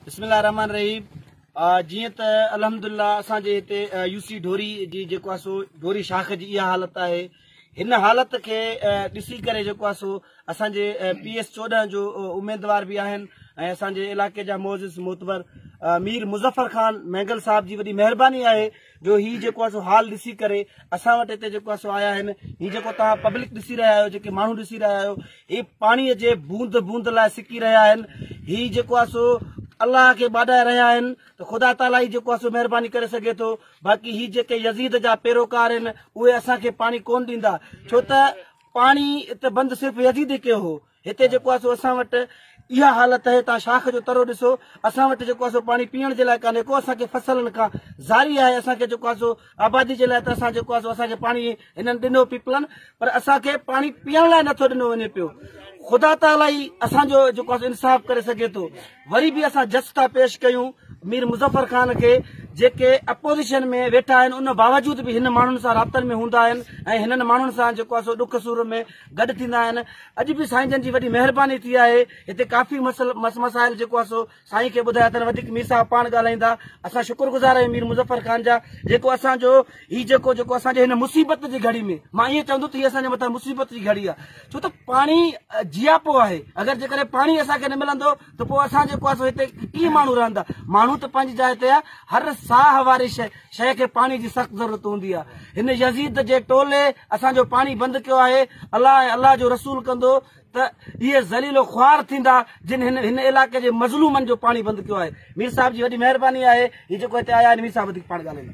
بسم الله الرحمن الرحيم جيئن ته الحمد الله اسان جي هتي يو سي ڍوري جي جيڪو آهي سو ڍوري شاخ جي اها حالت آهي هن حالت کي ڏسي ڪري جيڪو آهي سو اسان جي پي ايس چوڏهن جو اميدوار به آهن ۽ اسان جي علاقي جا معزز معتبر مير مظفر خان مينگل صاحب جي وڏي مهرباني آهي جو هي جيڪو آهي سو حال ڏسي ڪري اسان وٽ هتي جيڪو آهي سو آيا آهن هي جيڪو توهان پبلڪ ڏسي رهيا آهيو جيڪي ماڻهو ڏسي رهيا آهيو هي پاڻي جي بوند بوند لاء سڪي رهيا آهن هي جيڪو آهي سو الله کي ٻاڏائي رهيا آهن ته خدا تعالي هي جيڪو آهي سو مهرباني ڪري سگهي ٿو باقي هي جيڪي يزيد جا پيروڪار آهن اهي اسان کي پاڻي ڪون ڏيندا ڇو ته پاڻي ات بند صرف يزيد کي هو هتي جيڪو آهي سو اسان وٽ اها حالت اهي تان شاخ جو ترو ڏسو اسان وٽ جيڪو آهي سو پاڻي پيئڻ جي لاء ڪانهي ڪو اسان کي فصلن کان زاري آهي اسان کي جيڪو آهي سو آبادي جي لاء ته اسان جيڪو آهي سو اسان کي پاڻي هنن ڏنو پيپلن پر اسان کي پاڻي پيئڻ لاء نٿو ڏنو وڃي پيو خدا تعالي ئي اسان جو جيڪو آهي انصاف ڪري سگهي ٿو وري به اسان جس ٿا پيش ڪيون مير مظفر خان کي جيڪي اپوزيشن ۾ ويٺا آهن ان باوجود به هن ماڻهن سان رابطن ۾ هوندا آهن ۽ هنن ماڻهن سان جيڪو آهي سو ڏک سور ۾ گڏ ٿيندا آهن اڄ به سائين جن جي وڏي مهرباني ٿي آهي هتي ڪافي مس مسائل جيڪو آهي سو سائين کي ٻڌايا اٿن وڌيڪ مير صاحب پاڻ ڳالهائيندا اسان شڪر گذار آهيون مير مظفر خان جا جيڪو اسان جو هي جيڪو جيڪو اسان جي هن مصيبت جي گهڙي ۾ مان ائين چوندو ته هي اسان جي مٿان مصيبت جي گهڙي آهي ڇو ته پاڻي جياپو آهي اگر جيڪڏهن پاڻي اسان کي نه ملندو ته پوء اسان جيڪو آهي سو هتي ڪيئن ماڻهو رهندا؟ ماڻهو ته پنهنجي جاء تي آهي، هر ساهه واري شيء شيء کي پاڻي جي سخت ضرورت هوندي آهي. هن يزيد جي ٽولي اسان جو پاڻي بند ڪيو آهي. الله ۽ الله جو رسول ڪندو ته اهي ذليل و خوار ٿيندا جن هن هن علائقي جي مظلومن جو پاڻي بند ڪيو آهي. مير صاحب جي وڏي مهرباني آهي. هي جيڪو هتي آيا آهن مير صاحب وڌيڪ پاڻ ڳالهائيندا.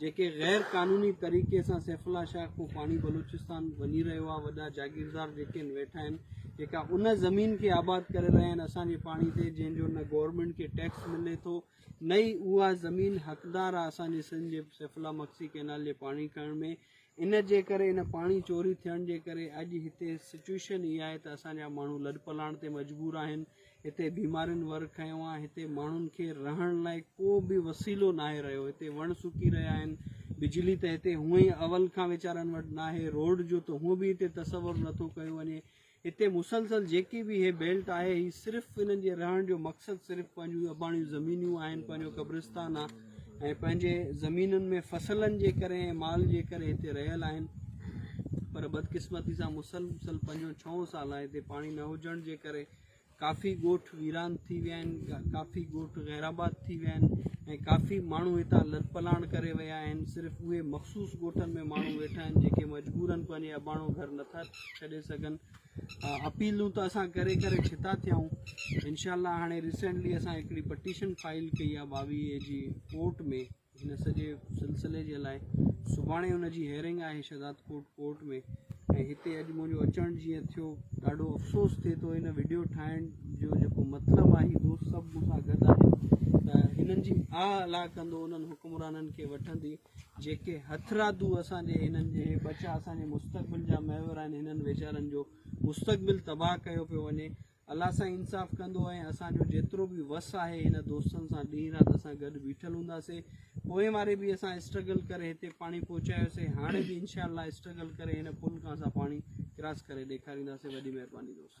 جيڪي غير قانوني طريقي سان سيف الله شاهه کان پاڻي بلوچستان وڃي رهيو آهي وڏا جاگيردار جيڪي آهن ويٺا آهن جيڪا ان زمين کي آباد ڪري رهيا آهن اسان جي پاڻي تي جنهن جو نه گورنمنٽ کي ٽيڪس ملي ٿو نه ئي اها زمين حقدار آهي اسان جي سنڌ جي سيف الله مگسي ڪينال جي پاڻي کڻڻ ۾ ان جي ڪري ان پاڻي چوري ٿيڻ جي ڪري اڄ هتي سچوئيشن اها آهي ته اسان جا ماڻهو لڏپلاڻ تي مجبور آهن هتي بيمارين ور کنيو آهي هتي ماڻهن کي رهڻ لاء ڪو به وسيلو ناهي رهيو هتي وڻ سڪي رهيا آهن بجلي ته هتي هونئن ئي اول کان ويچارن وٽ ناهي روڊ جو ته هونئن به هتي تصور نٿو ڪيو وڃي هتي مسلسل جيڪي به هي بيلٽ آهي هي صرف هنن جي رهڻ جو مقصد صرف پنهنجون اباڻيون زمينيون آهن پنهنجو قبرستان آهي ۽ پنهنجي زمينن ۾ فصلن جي ڪري ۽ مال جي ڪري هتي رهيل آهن پر بدقسمتي سان مسلسل پنجون ڇهون سال آهي هتي پاڻي نه هجڻ جي ڪري ڪافي ڳوٺ ويران ٿي ويا آهن، ڪافي ڳوٺ غيرآباد ٿي ويا آهن ۽ ڪافي ماڻهو هتان لڏپلاڻ ڪري ويا آهن، صرف اهي مخصوص ڳوٺن ۾ ماڻهو ويٺا آهن جيڪي مجبورن پنهنجي اباڻو گهر نٿا ڇڏي سگهن، اپيلون ته اسان ڪري ڪري ڇتا ٿيا آهيون، انشاء الله هاڻي ريسينٽلي اسان هڪڙي پٽيشن فائل ڪئي آهي ٻاويهه اي جي ڪورٽ ۾. هن سڄي سلسلي جي لاء سڀاڻي ان جي هيئرنگ آهي شهدادڪوٽ ڪورٽ ۾ ۽ هتي اڄ منهنجو اچڻ جيئن ٿيو ڏاڍو افسوس ٿئي ٿو هن وڊيو ٺاهڻ جو جيڪو مطلب آهي دوست سڀ مون سان گڏ آهن ته هنن جي آ الا ڪندو انهن حڪمرانن کي وٺندي جيڪي هٿرادو اسان جي هنن جي ٻچا اسان جي مستقبل جا محور آهن هنن ويچارن جو مستقبل تباهه ڪيو پيو وڃي الله سائين انصاف ڪندو ۽ اسان جو جيترو به وس آهي هن دوستن سان ڏينهن رات اسان گڏ بيٺل هونداسي پوئين واري به اسان اسٽرگل ڪري هتي پاڻي پهچايوسي هاڻي به انشاء الله اسٽرگل ڪري هن پل کان اسان پاڻي ڪراس ڪري ڏيکارينداسي وڏي مهرباني دوست